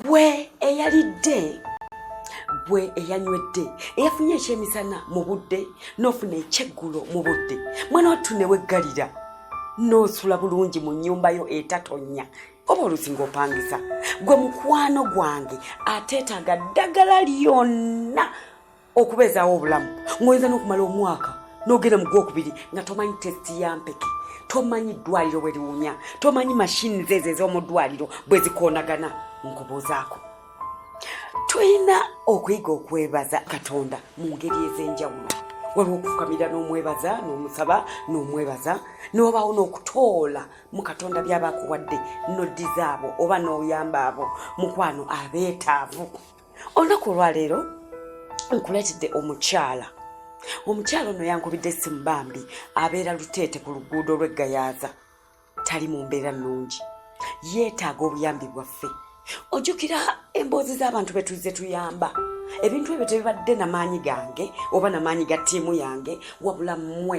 gwe eyalidde gwe eyanywedde eyafunye ekyemisana mu budde n'ofuna ekyeggulo mu budde mwana wattu ne weggalira n'osula bulungi mu nnyumba yo etatonya oba olusi ng'opangisa gwe mukwano gwange ateetaaga ddagala lyonna okubeezaawo obulamu ng'oyinza n'okumala omwaka n'ogenda mu gwokubiri nga tomanyi tesiti ya mpeke tomanyi ddwaliro bwe liwunya tomanyi mashini zeezo ez'omu ddwaliro bwe zikoonagana nkubuuzaako tulina okuyiga okwebaza katonda mu ngeri ez'enjawulo waliwo okufukamira n'omwebaza n'omusaba n'omwebaza n'obaawo n'okutoola mu katonda byaba akuwadde noddiza abo oba n'oyamba abo mukwano abeetaavu olunaku olwaleero nkuleetedde omukyala omukyala ono yankubidde essimu bambi abeera luteete ku luguudo lw'eggayaaza tali mu mbeera nnungi yeetaaga obuyambi bwaffe ojjukira emboozi z'abantu be tuzze tuyamba ebintu ebyo tebibadde na maanyi gange oba na maanyi ga ttiimu yange wabula mmwe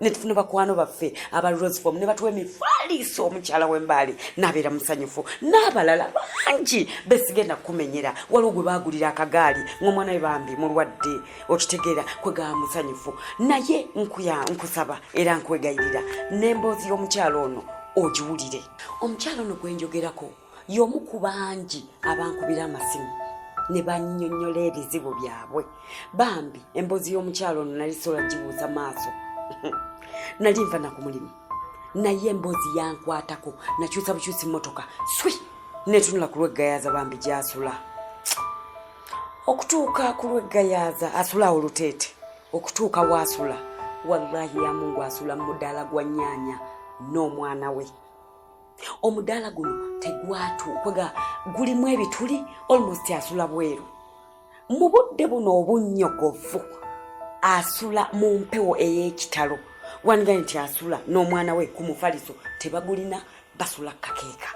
ne tufuna bakwano baffe aba rosefom ne batuwa emifaaliiso omukyala w'embaali n'abeera musanyufu n'abalala bangi besigenda kukumenyera waliwo gwe baagulira akagaali ng'omwana we bambi mulwadde okitegeera kwe gaba musanyufu naye nkuya nkusaba era nkwegayirira n'emboozi y'omukyala ono ogiwulire omukyala ono gwe njogerako y'omu ku bangi abankubira amasimu ne bannyonnyola ebizibu byabwe bambi emboozi y'omukyalo ono nali sola gibuuza maaso nali nva na ku mulimu naye emboozi yankwatako nakyusa bukyusi mmotoka swi netunula ku lweggayaaza bambi gyasula okutuuka ku lweggayaaza asula awo luteete okutuuka waasula wallahi yamungu asula mu mudaala gwa nyaanya n'omwana we omudaala guno tegwatuukaga gulimu ebituli almost asula bweru mu budde buno obunnyogovu asula mu mpewo ey'ekitalo wandiga nti asula n'omwana we ku mufaliso tebagulina basula kakeeka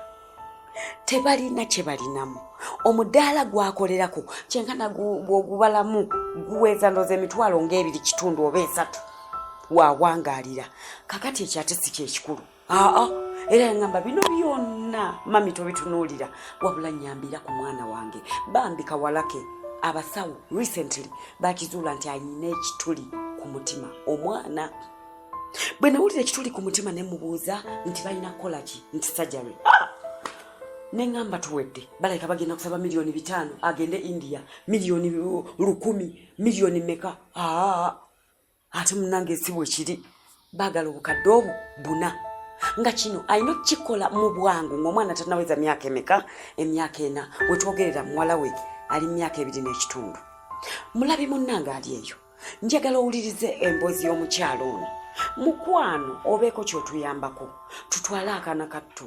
tebalina kye balinamu omudaala gwakolerako kyenkana gwogubalamu guweza ndoza emitwalo ng'ebiri kitundu oba esatu wawangalira kakati ekyo ate si kyekikulu aa era yangamba bino byonna mami tobitunuulira wabula nyambira ku mwana wange bambi kawalake abasawo recently bakizuula nti alina ekituli ku mutima omwana bwe nawulira ekituli ku mutima ne mubuuza nti balina kukola ki nti sajary ah! ne ŋamba tuwedde balabika bagenda kusaba miliyoni bitaano agende india miliyoni lukumi miliyoni meka aa ah! ate munange si bwe kiri baagala obukadde obwo buna nga kino alina okukikola mu bwangu ng'omwana tanaweza myaka emeka emyaka ena wetwogerera muwala we ali mu myaka ebiri n'ekitundu mulabi munnange ali eyo njagala owulirize emboozi y'omukyalo ono mukwano obeeko kyotuyambako tutwale akaana kattu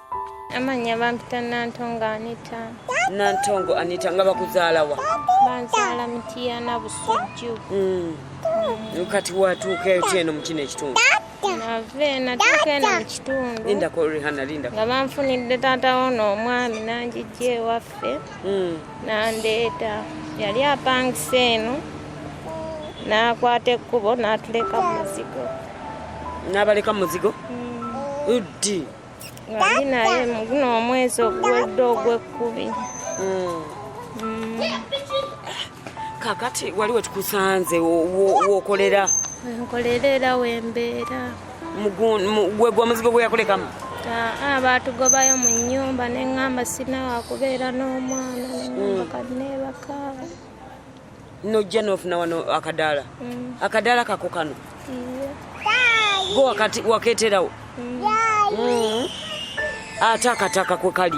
Amanya bampita Nantongo Anita. Nantongo Anita nga bakuzaalawa? Banzaala Mityana Busujju. Mm. Mm. Kati watuuka etya eno mu kino ekitundu? Nave natuuka eno mu kitundu. Lindako Rihanna lindako. Nga banfunidde taata woono omwami nanjijja ewaffe. Mm. Nandeeta. Yali apangisa eno. N'akwata ekkubo n'atuleka mu muzigo. N'abaleka mu muzigo? Mm. Uddi. nga ndi naye muguno omwezi oguwedde ogwekkubi hmm. hmm. kakati wali wetukusanze wokolera wenkolera era wembeera gwe gwa muzigo gwe yakulekamu aa baatugobayo mu nyumba ne ŋŋamba sinawakubeera n'omwana ne ŋŋamba hmm. kanneebakaaba nojja nofuna wano akadaala mm. akadaala kako kano go wakati waketerawo mm. mm. ate akataka kwe kali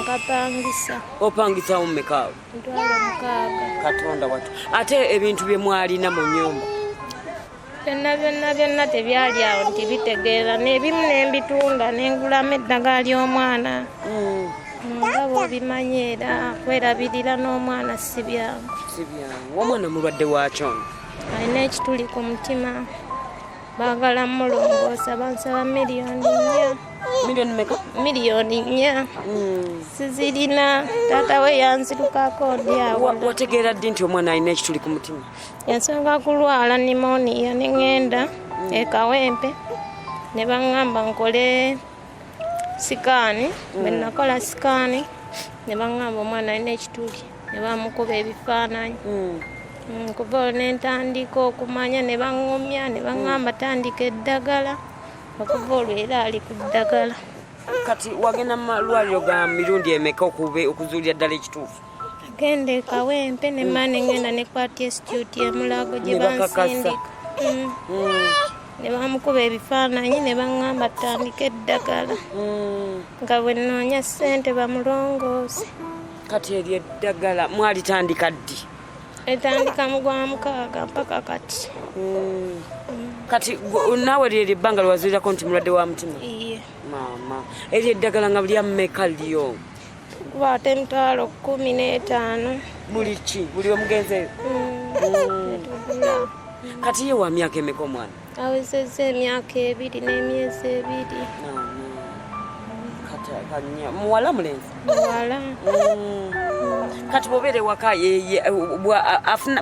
nkapangisa opangisawo mumekaawo katonda watu ate ebintu bye mwalina mu nyumba byonna byonna byonna tebyali awo nti bitegeera nebimu nembitunda nengulamu eddagala ly'omwana mm. nga bwobimanyi era kwerabirira n'omwana sibyangu sibyangu omwana mulwadde wakyo alina ekituli ku mutima bagala mulongoosa bansaba miliyoni nnya miliyoni meka miliyoni nnya hmm. sizirina taata we yanzirukako ndi awo wategeera ddi nti omwana alina ekituli ku mutima Yansonga kulwala nimoniya ne ŋŋenda e Kawempe ne baŋŋamba nkole sikaani. Bwe mm. nakola sikaani ne baŋŋamba omwana alina ekituli ne bamukuba ebifaananyi. Mm. Mm, kuva olwo ne ntandika okumanya ne baŋŋumya ne baŋŋamba tandika eddagala okuva olwo era ali ku ddagala. Kati wagenda mu malwaliro ga mirundi emeka okuzuulira ddala ekituufu? Genda e Kawempe ne mane ngenda ne kwati institute ya Mulago gye bansindika mm. mm. ne bamukuba ebifaananyi ne baŋŋamba tutandike eddagala mm. nga bwe nnoonya ssente bamulongoosi kati eryo eddagala mwalitandika ddi etandika mu gwa mukaaga mpaka kati kati naawe lyeri ebbanga lwewazurirako nti mulwadde wa mutima maama eryo eddagala nga bulyammeka lyo tukuba ate emitwalo kumi n'etaano buli ki buli omugenzeyo mm. kati ye wa myaka emeka omwana awezeza emyaka ebiri n'emyezi ebiri muwala mulenzi muwala mm. kati bobeera ewaka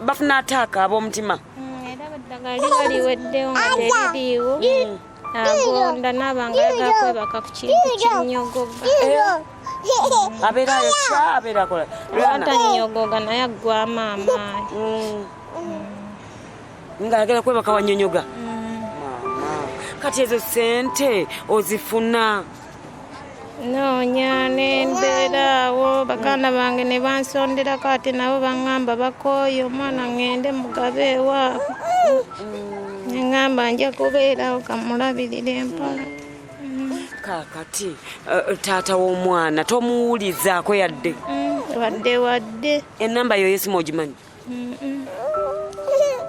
bafuna ataaka ab'omutima mm, era baddagaliwaliweddewo nga teririiwo agonda naaba nga yagala kwebaka ku kintu kinyogoga abeerayo kya abeerakola atanyogoga naye aggwamu amaanyi mm. mm. nga ayagala kwebaka wanyonyoga mm. kati ezo sente ozifuna noonya ne mbeeraawo baganda bange ne bansonderako ate nabo baŋŋamba bakooye omwana ŋŋende mugabe ewaabwe ne ŋŋamba nja kubeerawo kamulabirira empola kaakati eh, eh, taata w'omwana tomuwulizaako yadde mm, wadde wadde enamba yo yesimu ogimanyi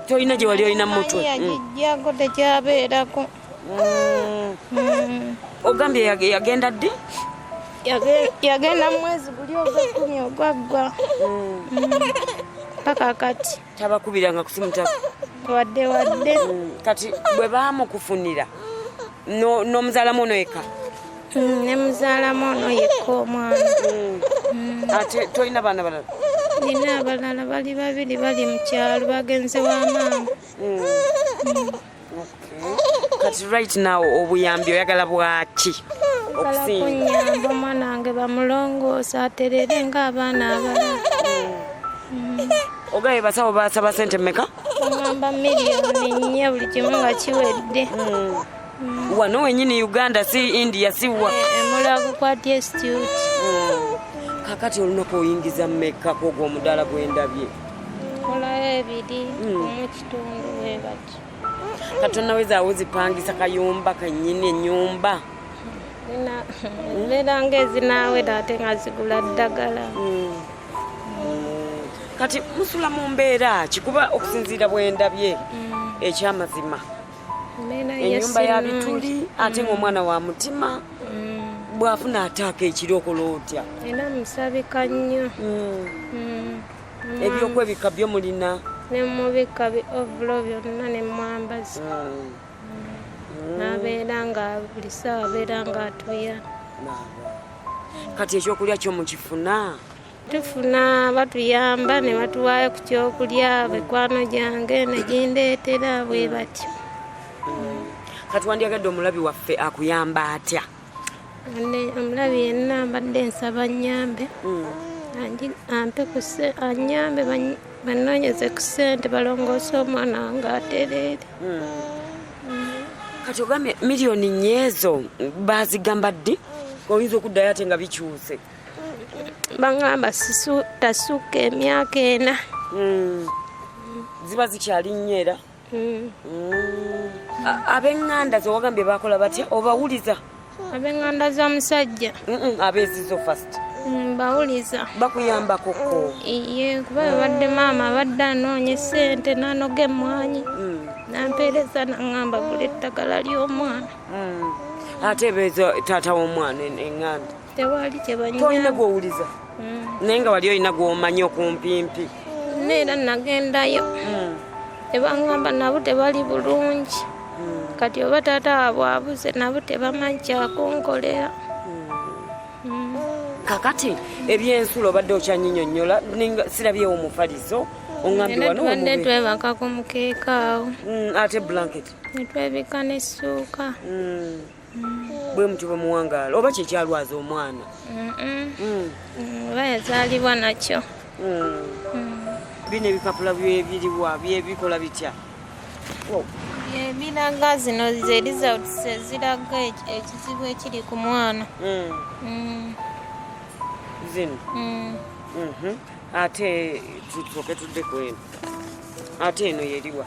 tolina gye wali olina mumutwe yagijjako tekyabeerako ogambye yagenda ddi yagenda mumwezi guli ogwekumi ogwaggwa paka kati tabakubiranga kusimu wadde wadde kati bwe bamukufunira n'omuzaalamu ono yekka mm, ne muzaalamu ono yekka omwana mm. mm. ate tolina baana balala nina abalala bali babiri bali mu kyalo bagenze wa maama kati right now obuyambi oyagala bwaki okunyamba omwana wange bamulongoosa aterere ng'abaana abalala ogaye basawo basaba sente meka ngamba miliyoni nnya buli kimu nga kiwedde hmm. wano wenyini uganda si india siwa emulago eh, kwa dstut hmm. kakati olunaku oyingiza meka kwogo omudala gwendabye nkolayo ebiri hmm. omukitundu webati katonda wezaawo zipangisa kayumba kanyini enyumba mbeera nga ezinaawera ate nga zigula ddagala hmm. kati musula mu mbeera ki kuba okusinziira bwendabye hmm. ekyamazima enyumba ya bituli ate hmm. ngaomwana wa mutima bwafuna ataaka ekiri okola otya era musabika nnyo ebyokwebika byo mulina nemubika bi ovulo byonna nemwambazi nabeera nga buli saawa abeera nga atuya kati ekyokulya kyo mukifuna tufuna batuyamba ne batuwaayo ku kyokulya mikwano gyange negindeetera bwe batyo kati wandyagadde omulabi waffe akuyamba atya omulabi yenna mbadde nsaba nyambe mm. ampe anyambe banoonyeze ku sente balongoose omwana wange atereere mm. mm. kati ogambye miliyoni nyeezo bazigamba ddi oyinza okuddayo ate nga bikyuse baŋamba tasukka emyaka ena ziba zikyali nnyo era mm. abenganda zewagambye bakola batya obawuliza abenganda zomusajja abezizo fast mm, bawuliza bakuyambakoko iye kuba abadde maama abadde anoonya esente nanoga emwanyi mm. nampeereza naŋamba gula eddagala ly'omwana mm. ate beeza taata w'omwana enganda e, tewali kyebalina gwowuliza mm. naye nga wali olina gwomanyi okumpimpi neera nagendayo mm. tebangamba nabo tebali bulungi mm. kati oba taata wabwe abuze nabo tebamanyi kyakunkolera kakati ebyensulo obadde okyanyinyonyola sirabyewo omufaliso ongambiwanetwebaka ku mukeeka awo ate blanket netwebika nesuuka bwe mutyo bwe muwangaala oba kyekyalwaza omwana mm. oba yazaalibwa nakyo mm. Mm. bino ebipapula byebiriwa byebikola bitya ebiraga zino ze results eziraga ekizibu ekiri ku mwana zino mhm. ate tusoke tuddeko eno ate eno yeriwa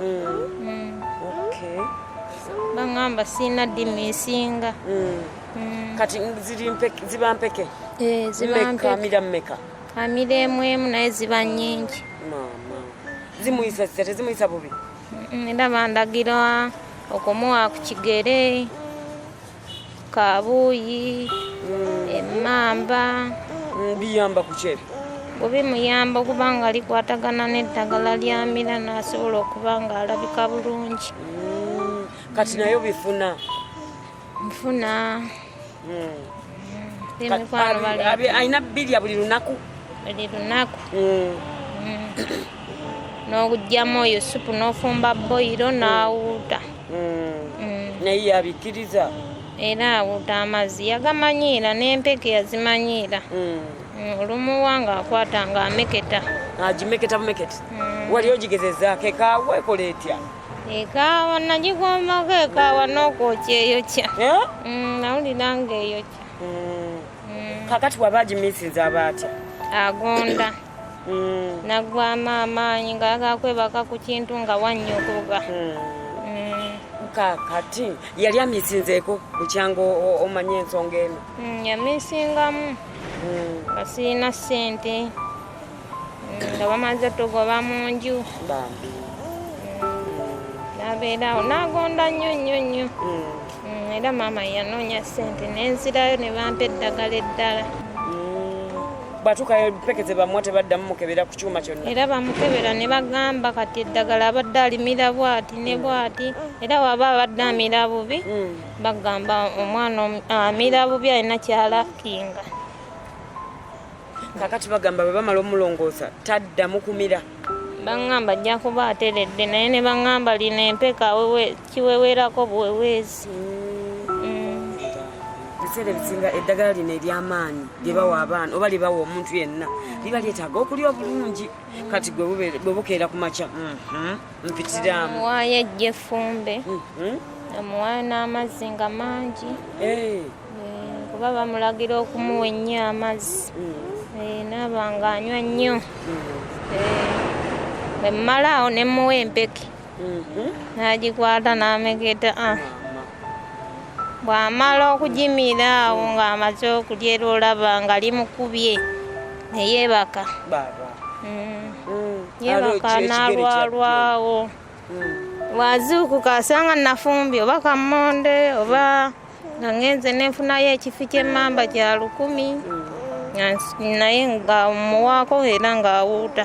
mm. baŋamba siina ddimu esinga mm. Mm. kati ziba mpeke eh, amira mumeka amira emu emu naye ziba nyingi zimuyisa zita tezimuyisa bubi era bandagira okumuwa ku kigere Kabuuyi, emmamba. Biyamba ku ki ebyo? Bwe bimuyamba okuba nga likwatagana n'eddagala lyamira n'asobola okuba ng'alabika bulungi. Mm, kati nayo bifuna? Bifuna. Mm. alina birya buli lunaku buli lunaku mm. n'okugyamu oyo supu n'ofumba boyiro n'awuuta mm. naye yabikkiriza era awuta amazzi yagamanyiira n'empeke yazimanyiira mm. Mm, olumuwa ng'akwata ng'ameketa agimeketa bumeketi wali ogigezezaako ekaawa ekola etya ekaawa nagigombako ekaawa n'okwokya eyokya eh? nawulira ng'eyokya kakati waba agimisinza aba atya agonda mm. nagwamu amaanyi nga yagala kwebaka ku kintu nga wannyogoga mm. mm. kakati yali amisinzeeko bukyanga omanya ensonga eno mm, yamisingamu mm. nga sirina ssente nga bamaze tugoba mu nju nabeerawo nagonda nnyo nnyo nnyo mm, era maama yanoonya ssente nenzirayo ne bampa eddagala eddala bwatukayo peke zebamuwa tebaddamu mukebera ku kyuma kyonna era bamukebera ne bagamba kati eddagala abadde alimira bwati ne bwati era waba abadde amira bubi mm. bagamba omwana amira bubi alina kyalakinga kakati bagamba bwe bamala omulongoosa taddamu kumira baŋŋamba ajja kuba ateredde naye ne baŋŋamba lino empeka wewe kiweweerako buweweezi ebiseera ebisinga eddagala lino ery'amaanyi lye bawa abaana oba lye bawa omuntu yenna liba lyetaaga okulya obulungi kati gwe bukeera ku makya mhm. mpitiraamu waayo ejja efumbe mhm. amuwaayo n'amazzi nga mangi eh. Eh, kuba bamulagira okumuwa ennyo amazzi mm. eh, naaba nga anywa nnyo mm. bwe mmalaawo ne mmuwa empeke nagikwata n'amegeta ah. bw'amala okugimira awo ng'amaze okulya era olaba nga limukubye ne yeebaka mm. mm. yeebaka n'alwalwawo mm. wazuukuka asanga nafumbye oba kammonde oba nga ngenze nenfunayo ekifi ky'emmamba kya lukumi naye nga muwaako era ng'awuuta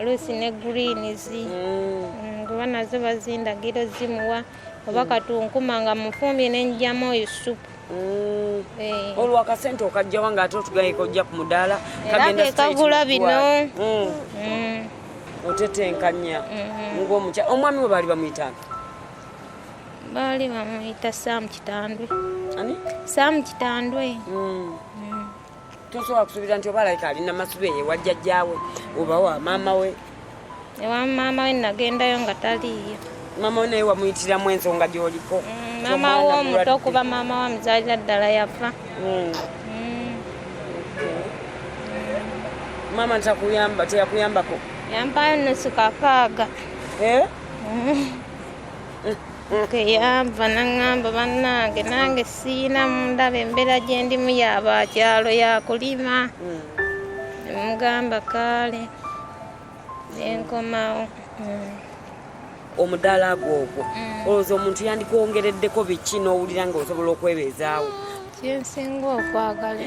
oluusi ne greens mm. kuba nazo bazindagiro zimuwa oba mm. katunkuma nga mufumbye nenjamu oyo supu mm. eh. olwo akasente okajjawa nga ate otugayika ojja ku mudaala kagula bino otetenkanya mm-hmm. ngaomukya omwami we baali bamuyitanga baali bamuyita sam kitandwe ani sam kitandwe tosobola kusuubira nti oba alayika alina masuba eye wa jjajjaawe oba wa maama we ewa maama we nagendayo nga taliiyo maama we naye wamuyitiramu ensonga gyoliko mm, maama wo omuto okuba maama wa muzaalira ddala yafa mm. Mm. maama takuyamba teyakuyambako yampayo nusu kakaaga eh? yava naŋŋamba bannange nange siina mundaba embeera gye ndimu yabakyalo yakulima mugamba kaale nenkomawo mm. omudaala gwo ogwo mm. olowooza omuntu yandikwongereddeko biki n'owulira nga osobola okwebeezaawo kyensinga okwagala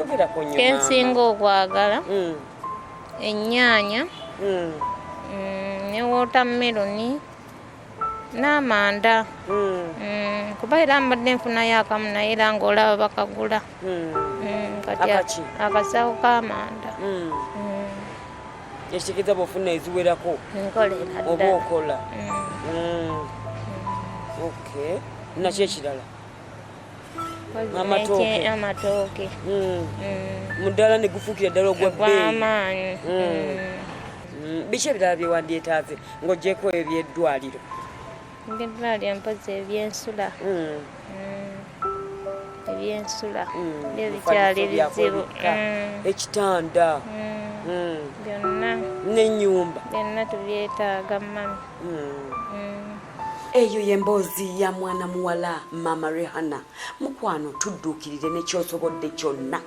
kensinga okwagala mm. ennyaanya ne wotameroni n'amanda hmm. Hmm, kuba era mbadde nfunayo akamu naye era ng'olaba bakagula hmm. kati akasawo k'amanda ekitegeeza bwofuna eziwerako oba okola okay naki ekirala amatooke amatooke mm. mm. muddala ne gufuukira ddala ogwamaanyi mm. biki ebirala bye wandyetaaze ng'ogyeko ebyo byeddwaliro ngeddwaliro mpozi ebyensula ebyensula byo bikyali bizibu ekitanda byonna n'ennyumba byonna tubyetaaga mami eyo yemboozi ya mwana muwala maama rehana mukwano tudduukirire nekyosobodde kyonna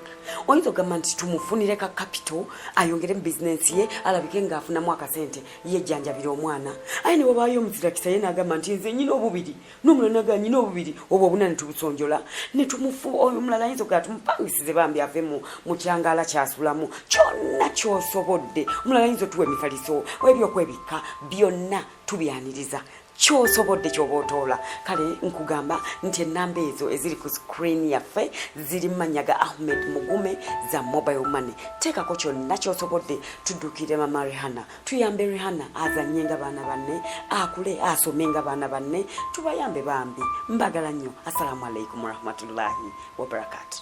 oyinza ogamba nti tumufunire ka kapito ayongere mu bizinensi ye alabike ngaafunamu akasente yejjanjabira omwana aye newabaayo omuzirakisa ye nagamba nti nze nyina obubiri nomulala naga nyina obubiri obwo obuna netubusonjola netumufu oyo omulala ayinza ogaa tumupangisize bambi ave mu mukyangala kyasulamu kyonna kyosobodde omulala ayinza otuwa emifaliso ebyokwebikka byonna tubyaniriza kyosobodde kyoba otoola kale nkugamba nti enamba ezo eziri ku screen yaffe ziri mumanya ga ahmed mugume za mobile money teekako kyonna kyosobodde tuddukire mama rihana tuyambe rihana azanye nga baana banne akule asome nga baana banne tubayambe bambi mbagala nnyo assalamu alaikum warahmatullahi wabarakatu